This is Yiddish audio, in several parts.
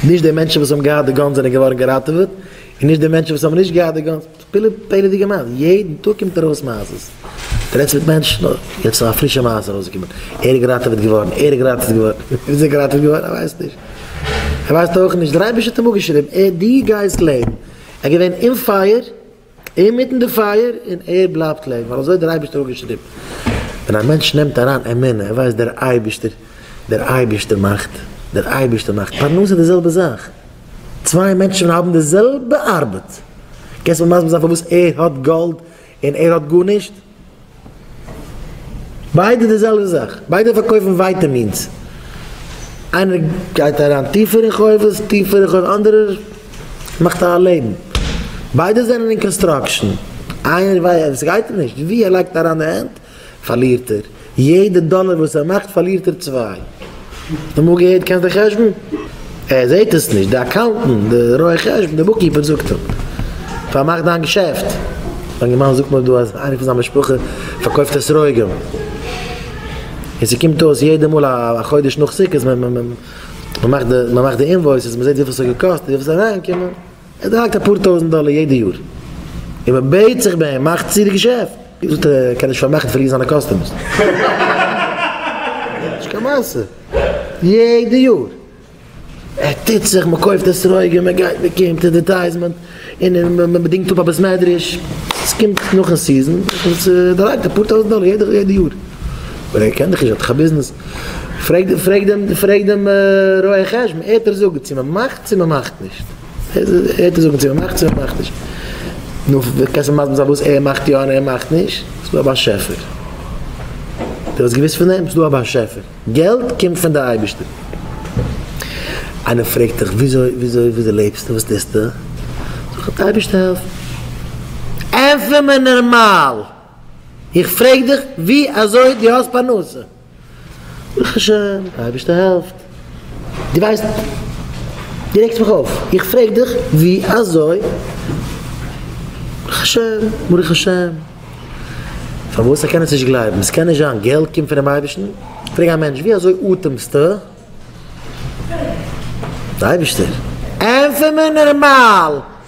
נישט די מענטשן וואס האבן געהאט די גאנס זענען געווארן געראטעוועט, און נישט די מענטשן וואס האבן נישט געהאט די גאנס, פילע פעלערדיגע מעשה'ס, יעדן טאג קומט ארויס מעשה'ס, דו רעדסט מיט מענטשן, אוי, יעצט איז א פרישע מעשה ארויסגעקומען, ער איז געראטעוועט געווארן, ער איז געראטעוועט געווארן, ווי איז ער געראטעוועט געווארן? ער ווייסט נישט, ער ווייסט אויך נישט, דער אייבערשטער האט אים אפגעשריבן, ער האט דיר גייסט לעבן, ער איז געווען אין פייער, אינמיטן די פייער און ער בלייבט לעבן ווייל אזוי דער אייבערשטער האט געשריבן. ווען א מענטש נעמט אריין אמונה ער ווייסט דער אייבערשטער דער אייבערשטער מאכט דער אייבערשטער מאכט פרנסה די זעלבע זאך צוויי מענטשן ווען האבן די זעלבע ארבעט קענסט מיר מסביר זיין פארוואס ער האט גאלד און ער האט גארנישט? ביידע די זעלבע זאך, ביידע פארקויפן ווייטעמינס, איינער גייט אריין טיפער אין חובות, טיפער אין חובות, אנדערער מאכט א לעבן, ביידע זענען אין קאנסטראקשען, איינער ווייסט, סגייט אים נישט, ווי ער לייגט אריין די הענט פארלירט ער, יעדע דאלער וואס ער מאכט פארלירט ער צוויי. אמאל געהערט קענסט די חשבון? ער זעהט עס נישט, די אקאונטענט, די רואה חשבון, די בוקקיפער זאגט אים, פארמאך דיין געשעפט. א יונגערמאן זאגט מיר דא אז איינער פון זיין משפחה פארקויפט אסרוגים, און ס'קומט אויס יעדע מאל א חודש נאך סוכות, מ'מאכט די אינוואויסעס, מ'זעהט וויפיל ס'האט געקאסט און וויפיל ס'איז אריינגעקומען, ער דרייט אפאר טויזענט דאלער יעדע יאר און מען בעט זיך ביי אים מאך צו די געשעפט. ער זאגט ער קען נישט פארמאכן פון ריר זיינע קאסטומערס. נישט קיין מעשה. יעדע יאר ער טוט זיך מען קויפט עסרויגען מען גייט מען קומט עדערטייזמענט און מען דינגט אפ א בית מדרש עס קומט נאכן סיזען עס דרייט אפאר טויזענט דאלער יעדע יאר. אבער ער קען דאך נישט ער האט דאך א ביזנעס. פרעג דעם רואה חשבון, ער וועט דיר זאגן צו מען מאכט צו מען מאכט נישט. נו, ווי קענסטו מסביר זיין וואס ער מאכט יא און ער מאכט נישט? ס'איז דא א באשעפער. דו האסט געוואוסט פון דעם? ס'איז דא א באשעפער. געלט קומט פון די אייבערשטער. איינער פרעגט דיך וויאזוי לעבסטו? וואס טוסטו? זאג אים, אייבערשטער העלף מיר. ענטפער מיר נארמאל! איך פרעג דיך ווי אזוי דו האסט פרנסה. ברוך השם, די אייבערשטער העלפט. דו ווייסט, דו רעגסט מיך אויף. איך פרעג דיך ווי אזוי. ברוך השם, ברוך השם. פארוואס ער קען עס נישט גלייבן? עס קען נישט זיין, געלט קומט פונעם אייבערשטן? פרעג א מענטש ווי אזוי אטעמסטו? די אייבערשטער. ענטפער מיר נארמאל,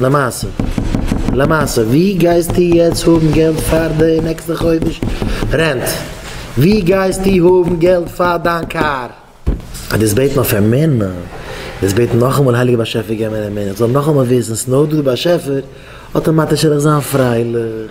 למעשה, למעשה, ווי גייסטו יעצט האבן געלט פאר די נעקסטע חודש רענט? ווי גייסטו האבן געלט פאר דיין קאר? אז דאס בעט מען אויף אים מער נא, דאס בעט נאכאמאל הייליגער באשעפער געב מיר אים מער איך זאל נאכאמאל וויסן ס'נאר דא די באשעפער, אטאמאטיש וועל איך זיין פרייליך.